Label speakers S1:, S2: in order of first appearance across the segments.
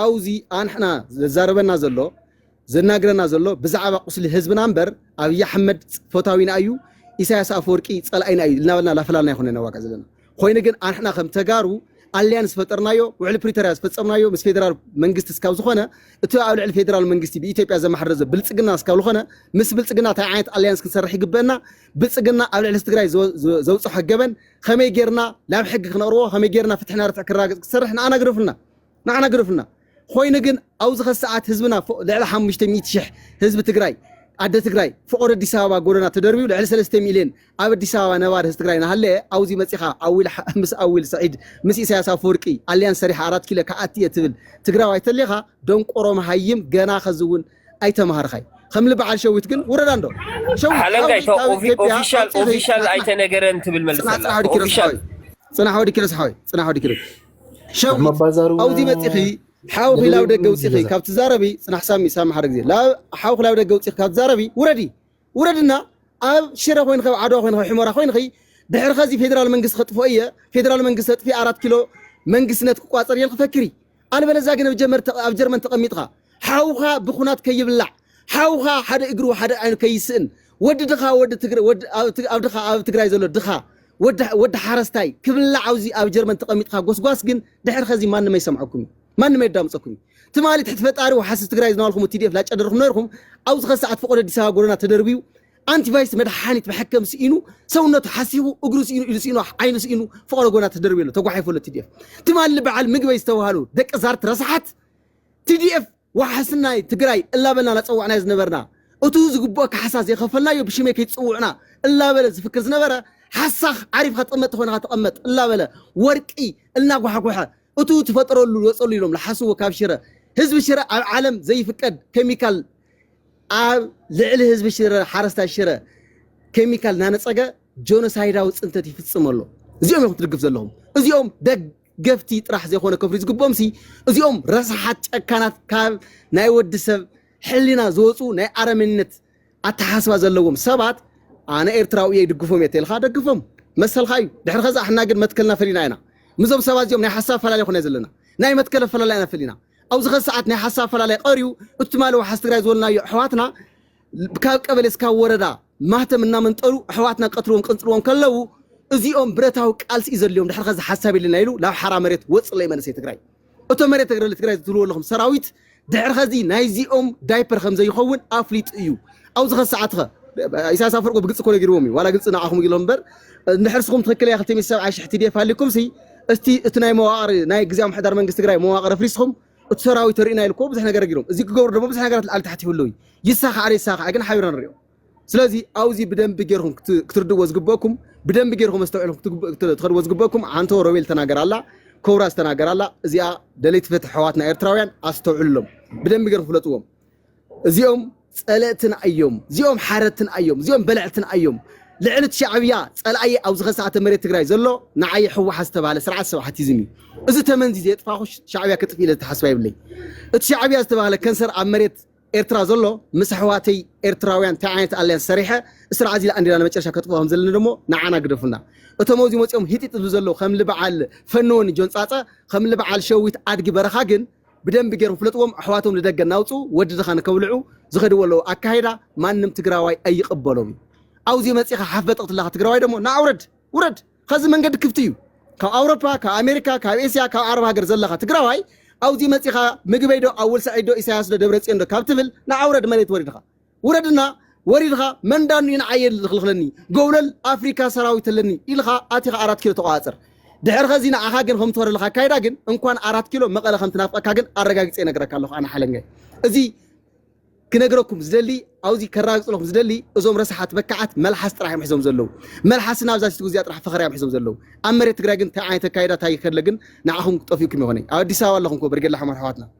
S1: ኣውዚ ኣንሕና ዘዛርበና ዘሎ ዘናግረና ዘሎ ብዛዕባ ቁስሊ ህዝብና እምበር ኣብይ ኣሕመድ ፈታዊና እዩ ኢሳያስ ኣፈወርቂ ጸላኢና እዩ ልናበልና ላፈላልና ይኹነ ነዋጋ ዘለና ኮይኑ ግን ኣንሕና ከም ተጋሩ ኣልያንስ ዝፈጠርናዮ ውዕሊ ፕሪቶርያ ዝፈጸምናዮ ምስ ፌደራል መንግስቲ እስካብ ዝኾነ እቲ ኣብ ልዕሊ ፌደራል መንግስቲ ብኢትዮጵያ ዘማሕረ ዘሎ ብልጽግና እስካብ ዝኾነ ምስ ብልጽግና እንታይ ዓይነት ኣልያንስ ክንሰርሕ ይግበአና ብልጽግና ኣብ ልዕሊ ትግራይ ዘውፅሖ ገበን ከመይ ጌርና ናብ ሕጊ ክነቕርቦ ከመይ ጌርና ፍትሕና ርትዕ ክረጋገጽ ክሰርሕ ንኣና ግደፉልና ንዓና ግደፉልና ኾይኑ ግን ኣውዚ ከሰዓት ህዝብና ፎእ ልዕሊ ሓሙሽተ ሚእቲ ሽሕ ህዝቢ ትግራይ ኣደ ትግራይ ፍቆዶ ኣዲስ ኣበባ ጎደና ተደርብዩ ልዕሊ ሰለስተ ሚልየን ኣብ ኣዲስ ኣበባ ነባሪ ህዝቢ ትግራይ ናሃለየ ኣውዚ መፂኻ ኣዊል ምስ ኣዊል ስዒድ ምስ ኢሳያስ ኣፈወርቂ ኣልያንስ ሰሪሐ ኣራት ኪሎ ክኣቲ እየ ትብል ትግራዋይ ተሊኻ ደንቆሮ መሃይም ገና ከዚ እውን ኣይተማሃርኻይ ከምሊ በዓል ሸዊት ግን ውረድ ኣንዶ ሸዊት ሓለንጋይ ሸዊት ካብ ኦፊ-
S2: ኢትዮጵያ ኦፊሻል ውፅእ ኦፊሻል ዘይፅናሕ ኣይተነገረን ትብል ጽናሕ ጽናሕ መልሰላ ወዲ ኪሮስ ኦፊሻል ሓወይ
S1: ጽናሕ ወዲ ኪሮስ ሓወይ ጽናሕ ወዲ ኪሮስ ሸዊት ኣብዙይ መፂኺ ሓው ክላብ ደገ ውፂኺ ካብ ትዛረቢ ፅናሕ ሳሚ ሳሚ ሓደ ግዜ ሓው ክላብ ደገ ውፂኺ ካብ ትዛረቢ ውረዲ ውረድና ኣብ ሽረ ኮይንኺ ኣብ ዓድዋ ኮይንኺ ሕመራ ኮይንኺ ድሕሪ ከዚ ፌደራል መንግስቲ ከጥፍኦ እየ ፌደራል መንግስቲ ኣጥፊ ኣራት ኪሎ መንግስትነት ክቋፀር እየ ክፈክሪ ኣልበለዛ ግን ኣብ ጀርመን ተቐሚጥኻ ሓውኻ ብኩናት ከይብላዕ ሓውኻ ሓደ እግሩ ሓደ ዓይኑ ከይስእን ወዲ ድኻ ወዲ ትግረ ወዲ ኣብ ትግ- ኣብ ድኻ ኣብ ትግራይ ዘሎ ድኻ ወዲ ወዲ ሓረስታይ ክብላዕ ኣብዚ ኣብ ጀርመን ተቐሚጥካ ጎስጓስ ግን ድሕሪ ኸዚ ማንም ኣይሰምዐኩም እዩ ማንም ኣየዳምፀኩም እዩ ትማሊ ትሕቲ ፈጣሪ ወሓስብ ትግራይ ዝነበርኩም ቲዲኤፍ ላጨደርኩም ነርኩም ኣብዚ ኸዚ ሰዓት ፈቆዶ ኣዲስ ኣበባ ጎደና ተደርብዩ ኣንቲቫይስ መድሓኒት መሐከም ስኢኑ ሰውነቱ ሓሲኹ እግሩ ስኢኑ ኢሉ ስኢኑ ዓይኑ ስኢኑ ፈቆዶ ጎደና ተደርብዩ ኣሎ ተጓሒፉ ኣሎ ቲዲኤፍ ትማሊ በዓል ምግበይ ዝተባሃሉ ደቂ ዛርት ረስሓት TDF ዋሕስናይ ትግራይ እላበልና ናፀዋዕናዮ ዝነበርና እቱ ዝግብኦ ካሕሳ ዘይኸፈልናዮ ብሽመይ ከይትፅውዑና እላበለ ዝፍክር ዝነበረ ሓሳኽ ዓሪፍኻ ትቕመጥ ተኾይንኻ ተቐመጥ እላበለ ወርቂ እልናጓሕጎሐ እቱ ትፈጥረሉ ወፀሉ ኢሎም ልሓስዎ ካብ ሽረ ህዝቢ ሽረ ኣብ ዓለም ዘይፍቀድ ኬሚካል ኣብ ልዕሊ ህዝቢ ሽረ ሓረስታይ ሽረ ኬሚካል እናነፀገ ጆኖሳይዳዊ ፅንተት ይፍፅም ኣሎ እዚኦም እዮም ክትድግፍ ዘለኹም እዚኦም ደግ ገፍቲ ጥራሕ ዘይኮነ ከፍርዩ ዝግብኦምሲ እዚኦም ረሳሓት ጨካናት ካብ ናይ ወዲ ሰብ ሕሊና ዝወጹ ናይ ኣረሜንነት ኣተሓሳስባ ዘለዎም ሰባት ኣነ ኤርትራዊ እየ ይድግፎም እየ ተልካ ደግፎም መሰልካ እዩ ድሕሪ ከዛ ሕና ግን መትከልና ፈሊና ኢና ምዞም ሰባት እዚኦም ናይ ሓሳብ ኣፈላላይ ኮነ ዘለና ናይ መትከል ኣፈላላይ ኢና ፈሊና ኣብዚ ከዚ ሰዓት ናይ ሓሳብ ኣፈላላይ ቀርዩ እቲ ትማሊ ዋሓስ ትግራይ ዝበልናዮ ኣሕዋትና ካብ ቀበሌ እስካብ ወረዳ ማህተም እናመንጠሉ ኣሕዋትና ክቀትልዎም ክቅንጽልዎም ከለዉ እዚኦም ብረታዊ ቃልሲ እዩ ዘድልዮም ድሕሪ ከዚ ሓሳብ የለና ኢሉ ናብ ሓራ መሬት ወጽለይ መንእሰይ ትግራይ እቶ መሬት ተግረለ ትግራይ ዝትብልዎ ኣለኹም ሰራዊት ድሕሪ ከዚ ናይዚኦም ዳይፐር ከም ዘይኸውን ኣፍሊጡ እዩ ኣብዚ ከ ሰዓት ከ ኢሳያስ ኣፈወርቂ ብግልፂ እኮ ነጊርዎም እዩ ዋላ ግልፂ ንዓኹም ኢሎም እምበር እንድሕር ስኹም ትኽክል እያ ክልተ ሚእቲ ሰብዓይ ሽሕ ቲዲኤፍ ሃሊኩም ሲ እስቲ እቲ ናይ መዋቕር ናይ ግዜያዊ ምሕዳር መንግስቲ ትግራይ መዋቕር ኣፍሪስኹም እቲ ሰራዊት ርኢና ኢልኮ ብዙሕ ነገር ገይሮም እዚ ክገብሩ ደሞ ብዙሕ ነገራት ላዕሊ ታሕቲ ይህሉ እዩ ይሳኻዕ ዘይሳኻዕ ግን ሓቢርና ንሪኦ ስለዚ ኣብዚ ብደንቢ ጌርኩም ክትርድዎ ዝግበእኩም ብደንቢ ጌርኩም ኣስተውዒልኩም ትኸድዎ ዝግበእኩም ሓንቶ ሮቤል ተናገር ኣላ ኮብራ ዝተናገር ኣላ እዚኣ ደለይቲ ፍትሒ ሕዋትና ኤርትራውያን ኣስተውዕሉሎም ብደንቢ ጌርኩም ፍለጥዎም እዚኦም ጸለእትና እዮም እዚኦም ሓረትና እዮም እዚኦም በለዕትና እዮም ልዕልት ሻዕብያ ጸላኣየ ኣብ ዝኸሰኣተ መሬት ትግራይ ዘሎ ንዓየ ሕወሓት ዝተባህለ ስርዓት ሰብሓቲዝም እዩ እዚ ተመንዚ ዘየጥፋኹ ሻዕብያ ክጥፍ ኢለ ዝተሓስባ ይብለይ እቲ ሻዕብያ ዝተባህለ ከንሰር ኣብ መሬት ኤርትራ ዘሎ ምስ ኣሕዋተይ ኤርትራውያን እንታይ ዓይነት ኣልያንስ ሰሪሐ እስራ ዓዚላ ኣንዲና ንመጨረሻ ከጥፍኦ ከም ዘለና ደሞ ንዓና ግደፉና እቶም ኣብዚ መፂኦም ሂጢጥ ዝብሉ ዘለዉ ከም ልበዓል ፈንወኒ ጆንፃፀ ከም ልበዓል ሸዊት ኣድጊ በረኻ ግን ብደንቢ ገይሮም ፍለጥዎም ኣሕዋቶም ንደገ እናውፅኡ ወዲ ድኻ ንከብልዑ ዝኸድዎ ዘለው ኣካይዳ ማንም ትግራዋይ ኣይቕበሎን እዩ ኣውዚ መፂኻ ሓፍ በጥቕ ትለኻ ትግራዋይ ደሞ ናዓ ውረድ ውረድ ኸዚ መንገዲ ክፍቲ እዩ ካብ ኣውሮፓ ካብ ኣሜሪካ ካብ ኤስያ ካብ ዓረብ ሃገር ዘለኻ ትግራዋይ ኣውዚ መፂኻ ምግበይ ዶ ኣወል ሳዒድ ዶ ኢሳያስ ዶ ደብረፅዮን ዶ ካብ ትብል ናዓ ውረድ መሬት ወሪድኻ ውረድና ወሪድኻ መን ዳኒ ንዓየ ዝኽልኽለኒ ጎብለል ኣፍሪካ ሰራዊት ኣለኒ ኢልኻ ኣቲኻ ኣራት ኪሎ ተቋዋፅር ድሕር ኸዚ ንዓኻ ግን ከም ትወረልኻ ኣካይዳ ግን እንኳን ኣራት ኪሎ መቐለ ከም ትናፍቐካ ግን ኣረጋጊፀ ይነግረካ ኣለኹ ኣነ ሓለንጋይ እዚ ክነግረኩም ዝደሊ ኣብዚ ከራግፅለኹም ዝደሊ እዞም ረሳሓት በካዓት መልሓስ ጥራሕ እዮም ሒዞም ዘለዉ መልሓስና ኣብዛ ሲትጉ እዚኣ ጥራሕ ፈኸርያ እዮም ሒዞም ዘለዉ ኣብ መሬት ትግራይ ግን እንታይ ዓይነት ኣካይዳ እንታይ ከለ ግን ንዓኹም ጠፊኡኩም ይኾነ ኣብ ኣዲስ ኣበባ ኣለኹም ኮ በርጌላ ሕማር ኣሕዋትና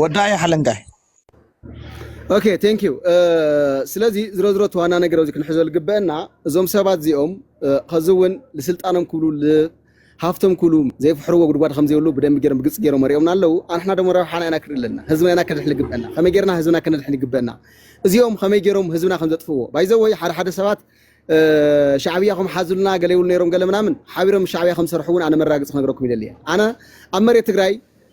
S3: ወዳ እያ ሓለንጋይ
S1: ኦኬ ቴንክ ዩ ስለዚ ዝሮ ዝሮ ተዋና ነገር ኣብዚ ክንሕዞ ዝግበአና እዞም ሰባት እዚኦም ከዚ እውን ንስልጣኖም ክብሉ ሃፍቶም ክብሉ ዘይፍሕርዎ ጉድጓድ ከምዘይብሉ ብደንብ ገይሮም ብግልፂ ገይሮም መሪኦምና ኣለዉ ኣንሕና ደሞ ረብሓና ኢና ክንርኢ ኣለና ህዝብና ኢና ከነድሕን ይግበአና ከመይ ገይርና ህዝብና ከነድሕን ይግበአና እዚኦም ከመይ ገይሮም ህዝብና ከም ዘጥፍዎ ባይዘወይ ሓደ ሓደ ሰባት ሻዕብያ ከም ሓዙልና ገለ ይብሉ ነይሮም ገለ ምናምን ሓቢሮም ሻዕብያ ከም ዝሰርሑ እውን ኣነ መራግፂ ክነግረኩም ይደሊ እየ ኣነ ኣብ መሬት ትግራይ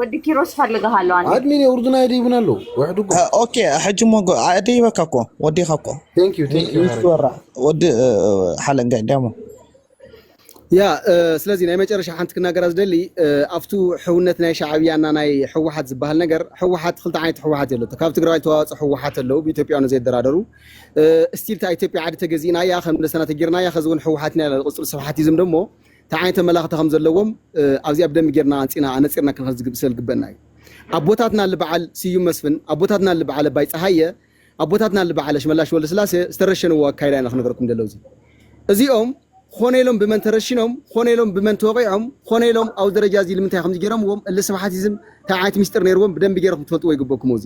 S3: ወዲ ኪሮስ
S4: ፈልግሃለሁ ኣነ ኣድሚን የውርዱና ይደይቡና
S5: ኣለዉ ወሕድጎ ኦኬ ሕጂ
S3: እሞ ደይበካ እኮ ወዲኻ እኮ ቴንክ ዩ ቴንክ ዩ ምስ
S5: ሃረግ ወራ ወዲ
S3: ሓለንጋ እንዲያ እሞ
S1: ያ እ፣ ስለዚ ናይ መጨረሻ ሓንቲ ክናገራ ዝደሊ እ፣ ኣብቱ ሕውነት ናይ ሻዕብያና ናይ ህወሓት ዝበሃል ነገር ህወሓት ክልተ ዓይነት ህወሓት የለቶ ካብ ትግራዋይ ተዋፅኦ ህወሓት ኣለዉ ብኢትዮጵያውያን ዘይደራደሩ እ፣ እስቲል እታ ኢትዮጵያ ዓዲ ተገዚእናያ ከም ደሰና ተጊርናያ ከዚ እውን ህወሓት ኢና ኢላ ዝቕፅሉ ስብሓቲዝም ደሞ እንታይ ዓይነት ኣመላኽታ ከም ዘለዎም ኣብዚኣ ብደንቢ ጌርና ኣንጺና ኣነጺርና ክንኸዝግብ ስለልግበና እዩ። ኣቦታትና እሊ በዓል ስዩም መስፍን፣ ኣቦታትና እሊ በዓል ኣባይ ጸሃየ፣ ኣቦታትና እሊ በዓል ኣሽመላሽ ወልደስላሴ ዝተረሸንዎ ኣካይዳ ኢና ክንገረኩም ደሎ እዚ እዚኦም ኾነ ኢሎም ብመን ተረሽኖም ኾነ ኢሎም ብመን ተወቂዖም ኾነ ኢሎም ኣብዚ ደረጃ እዚ ልምንታይ ከምዚ ጌሮምዎም እሊ ስብሓቲዝም እንታይ ዓይነት ሚስጥር ነይርዎም ብደንቢ ጌርኩም ትፈልጥዎ ይግበኩም እዚ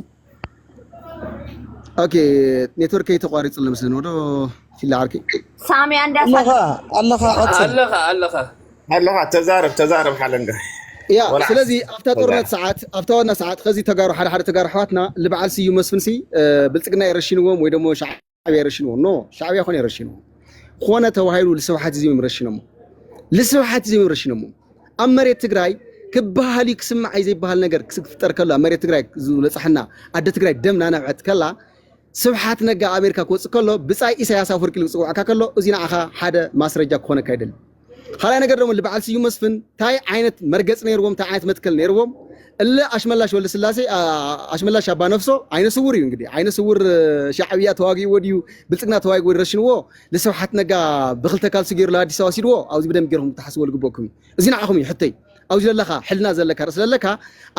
S1: ኦኬ ኔትወርከይ ተቋሪጹ ኣሎ መስለኒ ወዶ ፊላ ዓርኪ ሳሚ ኣንዳ
S4: ኣለኻ ኣለኻ ቀጽል ኣለኻ
S5: ኣለኻ ኣለኻ ተዛረብ ተዛረብ ሓለንጋ ያ ስለዚ
S1: ኣብታ ጦርነት ሰዓት ኣብታ ዋና ሰዓት ከዚ ተጋሩ ሓደ ሓደ ተጋሩ ኣሕዋትና ልበዓል ስዩ መስፍንሲ ብልፅግና የረሽንዎም ወይ ደሞ ሸዓ ሻዕብያ ረሽንዎ ኖ ሻዕብያ ኮነ ረሽንዎ ኮነ ተባሂሉ ልስብሓት እዚ እዮም ረሽነሞ ልስብሓት እዚ እዮም ረሽነሞ ኣብ መሬት ትግራይ ክበሃል እዩ ክስማዕ እዩ ዘይበሃል ነገር ክፍጠር ከሎ ኣብ መሬት ትግራይ ዝበፅሐና ኣደ ትግራይ ደም ናነብዐት ከላ ስብሓት ነጋ ኣሜሪካ ክወፅእ ከሎ ብፃይ ኢሳያስ ኣፈወርቂ ዝፅውዐካ ከሎ እዚ ንዓኻ ሓደ ማስረጃ ክኾነካ ይደሊ ካልኣይ ነገር ደሞ ልበዓል ስዩም መስፍን ታይ ዓይነት መርገፂ ነይርዎም ታይ ዓይነት መትከል ነይርዎም እለ ኣሽመላሽ ወልደስላሴ ኣሽመላሽ ኣባ ነፍሶ ዓይነ ስውር እዩ እንግዲህ ዓይነ ስውር ሻዕብያ ተዋጊእዎ ድዩ ብልፅግና ተዋጊእዎ ረሽንዎ ንስብሓት ነጋ ብክልተ ካልሲ ገይሩ ኣዲስ ኣበባ ሲድዎ ኣብዚ ብደንብ ገይርኩም ክትሓስብዎ ዝግበኩም እዩ እዚ ንዓኹም እዩ ሕተይ ኣብዚ ዘለካ ሕልና ዘለካ ርእሲ ዘለካ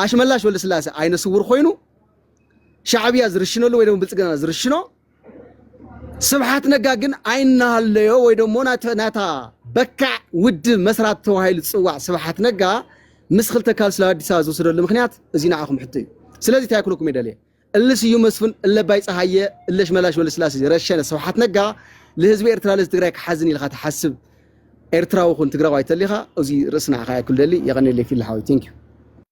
S1: ኣሽመላሽ ወልደስላሴ ዓይነ ስውር ኮይኑ ሻዕብያ ዝርሽነሉ ወይ ድማ ብልፅግና ዝርሽኖ ስብሓት ነጋ ግን ኣይናሃለዮ ወይ ደሞ ናታ በካዕ ውድብ መስራት ተባሂሉ ዝፅዋዕ ስብሓት ነጋ ምስ ክልተ ካል ስለ ኣዲስ ኣበባ ዝወሰደሉ ምክንያት እዚ ንዓኹም ሕቶ እዩ ስለዚ እንታይ ክብለኩም ይደልየ እለ ስዩ መስፍን እለ ባይ ፀሃየ እለ ሽመላሽ ወለስላሴ ረሸነ ስብሓት ነጋ ልህዝቢ ኤርትራ ለዚ ትግራይ ክሓዝን ኢልካ ትሓስብ ኤርትራዊ ኹን ትግራዋይ ተሊኻ እዚ ርእስና ኢኻ ያክል ደሊ የቐኔለይ ፊል ሓወይ ቴንክ ዩ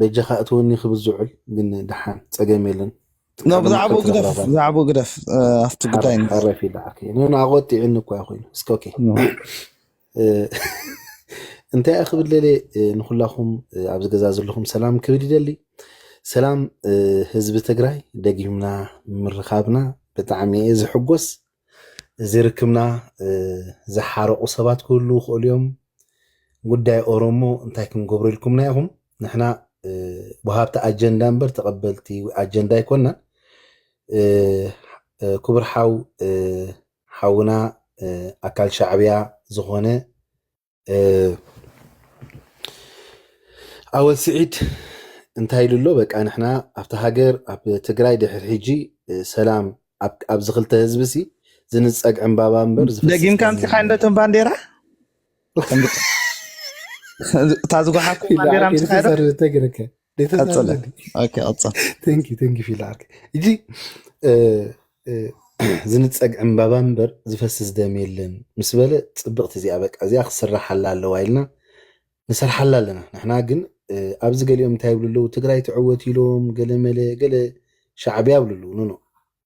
S5: በጃኻ እትወኒ ክብል ዝውዕል ግን ድሓን ጸገም የለን ብዛዕባኡ
S3: ግደፍ ብዛዕባኡ ግደፍ ኣብቲ ጉዳይ ሓረፊ ድሓር ከይነ
S5: ኣቆጢዕኒ እኳ ኮይኑ እስከ ኦኬ እንታይ እያ ክብል ደልየ ንኩላኹም ኣብዚ ገዛ ዘለኹም ሰላም ክብል ይደሊ ሰላም ህዝቢ ትግራይ ደጊምና ምርኻብና ብጣዕሚ እየ ዝሕጎስ እዚ ርክብና ዝሓረቑ ሰባት ክህልዉ ይኽእሉ እዮም። ጉዳይ ኦሮሞ እንታይ ክንገብሮ ኢልኩምና ኢኹም? ንሕና ወሃብቲ ኣጀንዳ እምበር ተቐበልቲ ኣጀንዳ ኣይኮናን። ክቡር ሓው ሓውና ኣካል ሻዕብያ ዝኾነ ኣወል ስዒድ እንታይ ኢሉ ኣሎ በቃ ንሕና ኣብቲ ሃገር ኣብ ትግራይ ድሕሪ ሕጂ ሰላም ኣብዚ ክልተ ህዝቢ ሲ ዝንፀግ ዕምባባ እምበር ደጊምካ ምፅኻ እንዶ
S3: እቶም ባንዴራ እታ ዝጓሓፍኩም ባንዴራ ምፅኻ ቀጽለ
S5: ኦኬ ቀጽል ተንኪ ተንኪ ፊላክ እጂ ዝንፀግ ዕምባባ እምበር ዝፈስስ ደም የለን ምስ በለ ፅብቕቲ እዚኣ በቃ እዚኣ ክስራሓላ ኣለዋ ኢልና ንሰርሓላ ኣለና ንሕና ግን ኣብዚ ገሊኦም እንታይ ይብሉ ኣለዉ ትግራይ ትዕወት ኢሎም ገለመለ ገለ ሻዕብያ ይብሉ ኣለዉ ኖኖ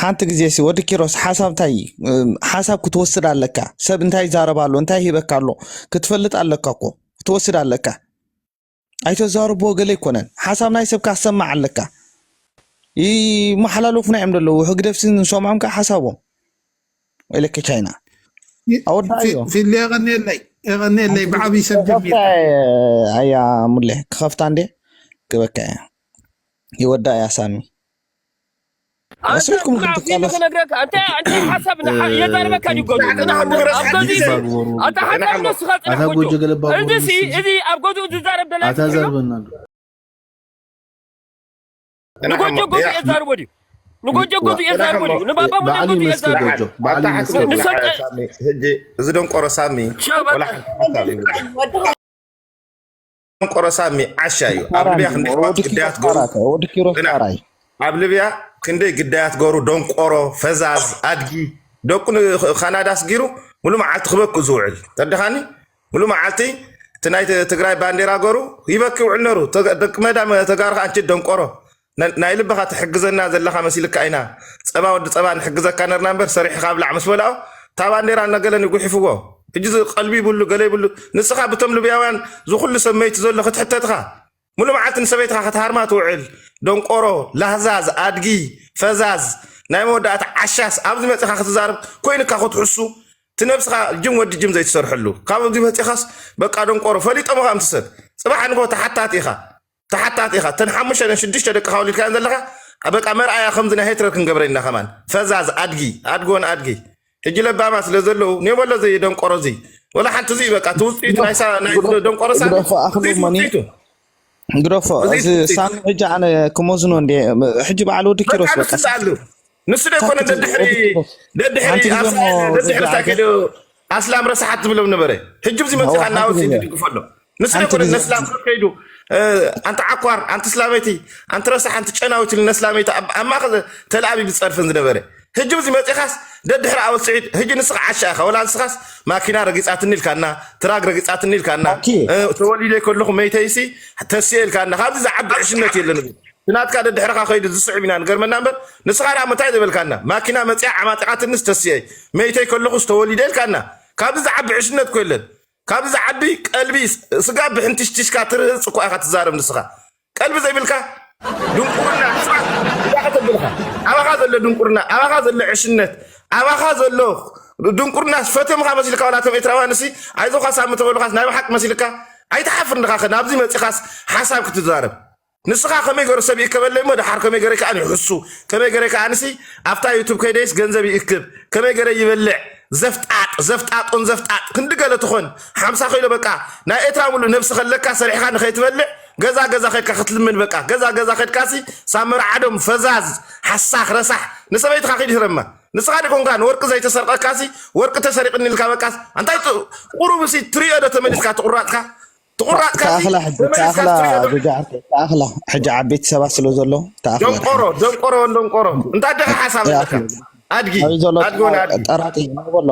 S3: ሓንቲ ግዜ ሲ ወዲ ኪሮስ ሓሳብ እንታይ እዩ? እም፣ ሓሳብ ክትወስድ ኣለካ ሰብ እንታይ ይዛረብ ኣሎ እንታይ ሂበካ ኣሎ ክትፈልጥ ኣለካ እኮ ክትወስድ ኣለካ ኣይተዛርቦ ገለ ኣይኮነን ሓሳብ ናይ ሰብካ ክትሰማዕ ኣለካ ይመሓላለፉና እዮም ዘለዉ ህግደፍሲ ንሰምዖም ከዓ ሓሳቦም ኢለኪ ቻይና ኣወዳእዮ ፊሊ
S6: የቐኒየለይ የቐኒየለይ ብዓብዪ ሰብ ጀሚር ኣያ
S3: ሙለ ክኸፍታ እንዴ ክበካ እያ ይወዳ እያ ሳሚ ኣስልኩም
S2: ክትቃለስ ክነግረካ እንተ እንተ ሓሳብ የዛረበካ ድዩ ገዱ ኣታ ሓሳብ ንስኻ ጽናሕ ጉጁ እዚ እዚ ኣብ ገዱ ዝዛረብ ደላ ኣታ ዘርበና ንጎጆ ገዙ እየ ዛርቦ ድዩ ንጎጆ ገዙ እየ ዛርቦ ድዩ ንባባ ሞደ ገዙ እየ ዛርቦ
S6: እዚ ደንቆሮ ሳሚ ደንቆሮ ሳሚ ዓሻ እዩ ኣብ ልብያ ክንደይ ግዳያት ገሩ ኣብ ልብያ ክንደይ ግዳያት ገሩ ደንቆሮ ፈዛዝ ኣድጊ ደቁ ካናዳ ስጊሩ ሙሉ መዓልቲ ክበክ ዝውዕል ተደኻኒ ሙሉ መዓልቲ እቲ ናይ ትግራይ ባንዴራ ገሩ ይበኪ ውዕል ነሩ ደቂ መዳ ተጋሩ ከዓ እንቺ ደንቆሮ ነ- ናይ ልብኻ ትሕግዘና ዘለኻ መሲልካ ኢና ፀባ ወዲ ፀባ ንሕግዘካ ነርና እምበር ሰሪሕኻ ብላዕ ምስ በልኦ እታ ባንዴራ ነገለን ይጉሕፍዎ ሕጂ እዚ ቀልቢ ይብሉ ገለ ይብሉ ንስኻ ብቶም ልብያውያን ዝኩሉ ሰመይቲ ዘሎ ክትሕተትኻ ሙሉ መዓልቲ ንሰበይትኻ ክትሃርማ ትውዕል ደንቆሮ ላህዛዝ ኣድጊ ፈዛዝ ናይ መወዳእታ ዓሻስ ኣብዚ መጺኻ ክትዛረብ ኮይኑካ ክትሕሱ እቲ ነብስኻ ጅም ወዲ ጅም ዘይትሰርሐሉ ካብ እዚ መጺኻስ በቃ ደንቆሮ ፈሊጦም ኻም ትሰብ ጽባሕ ንግሆ ተሓታቲ ኢኻ ተሓታቲ ኢኻ እተን ሓሙሽተ ደን ሽዱሽተ ደቅኻ ወሊድካየን ዘለኻ በቃ መርኣያ ከምዚ ናይ ሄትረር ክንገብረን ኢና ከማን ፈዛዝ ኣድጊ ኣድጎን ኣድጊ ሕጂ ለባማ ስለ ዘለዉ ኔበሎ እዚ ደንቆሮ እዚ ወላ ሓንቲ እዚ በቃ እቲ ውፅኢቱ ናይ ሳ- ናይ እዚ ደንቆሮ ሳሚ ግደፎ እዚ ኣኽሉ እቲ መኒ ውፅኢቱ
S3: ግደፎ እዚ እዚ እቲ ውፅኢቱ ሳሚ ሕጂ ኣነ ክመዝኖ እንደ ሕጂ በዓል ወዲ በቃ ኪሮስ በቃ ንሱ ኣሉ ሳክት ንሱ ዶ ኣይኮነ
S6: ሳክት ደድሕሪ ወዲ ኪሮስ ደድሕሪ ሓንቲ ግዜ እሞ ኣስላ- ደድሕሪ ጀጃ ሳኪዶ ኣስላም ረሳሓት ዝብሎም ነበረ ሕጂ ብዚ መፂእካ እናወፅ እዩ ትድግፎ ኣሎ ንስለ ሓንቲ ኮነ ግዜ ነስላም ሓንቲ ከይዱ እ፣ ኣንቲ ዓኳር ኣንቲ ስላመይቲ ኣንቲ ረሳሕ ኣንቲ ጨናዊት ኢሉ ነስላመይቲ ኣብ ኣብ ማእኸል ተላኣቢ ዝፀርፈን ዝነበረ ህጂ ብዚ መፂኻስ ደድሕሪ ኣወል ስዒድ ህጂ ንስኻ ዓሻ ኢኻ ወላ ንስኻስ ማኪና ረጊፃትኒ ኢልካና ትራግ ረጊፃትኒ ኢልካና ኣኪ እ፣ ተወሊደ ከለኹ መይተይሲ ተስየ ኢልካና ካብዚ ዝዓቢ ዕሽነት የለን እዚ ትናትካ ደድሕርኻ ከይዱ ዝስዕብ ኢና ንገርመና እምበር ንስኻ ደኣ ምንታይ ዝበልካና ማኪና መፂኣ ዓማጢቓትንስ ተስየ መይተይ ከለኹስ ተወሊደ ኢልካና ካብዚ ዝዓቢ ዕሽነት ኮ የለን ካብዚ ዝዓቢ ቀልቢ ስጋ ብሕንትሽትሽካ ትርህጽ እኳ ኢኻ ትዛረብ ንስኻ ቀልቢ ዘይብልካ ድንቁርና ህዝባ እዳ ከተብልኻ ኣባኻ ዘሎ ድንቁርና ኣባኻ ዘሎ ዕሽነት ኣባኻ ዘሎ ድንቁርናስ ፈተምኻ መሲልካ ዋላ እቶም ኤርትራውያንሲ ኣይዞኻ ሳሚ ተበሉኻስ ናይ ብሓቂ መሲልካ ኣይትሓፍር ንኻኸ ናብዚ መጺኻስ ሓሳብ ክትዛረብ ንስኻ ከመይ ገሩ ሰብ ይእከበለይ እሞ ደሓር ከመይ ገረ ከኣ ይሕሱ ከመይ ገረ ከኣንሲ ኣብታ ዩቱብ ከይደይስ ገንዘብ ይእክብ ከመይ ገረ ይበልዕ ዘፍጣጥ ዘፍጣጦን ዘፍጣጥ ክንዲ ገለ ትኾን ሓምሳ ኪሎ በቃ ናይ ኤትራ ሙሉእ ነብሲ ከለካ ሰሪሕካ ንኸይትበልዕ ገዛ ገዛ ከድካ ክትልምን በቃ ገዛ ገዛ ከድካሲ ሳብ መርዓዶም ፈዛዝ ሓሳኽ ረሳሕ ንሰበይትኻ ኪድ ህረማ ንስኻ ደኮንካ ንወርቂ ዘይተሰርቀካሲ ወርቂ ተሰሪቅኒ ኢልካ በቃ ኣንታይ ቁሩብሲ ትሪኦ ዶ ተመሊስካ ትቁራጽካ ትቑራጽካ
S3: እዚ ተመሊስካ ትሪኦ ዶ ተኣኽላ ሕጂ ዓበይቲ ሰባት ስለ ዘሎ ተኣኽላ ደንቆሮ
S6: ደንቆሮ ወን ደንቆሮ እንታይ ደቂ ሓሳብ ኣለካ ኣድጊ ኣድጊ ወን ኣድጊ ጠራጢ በሎ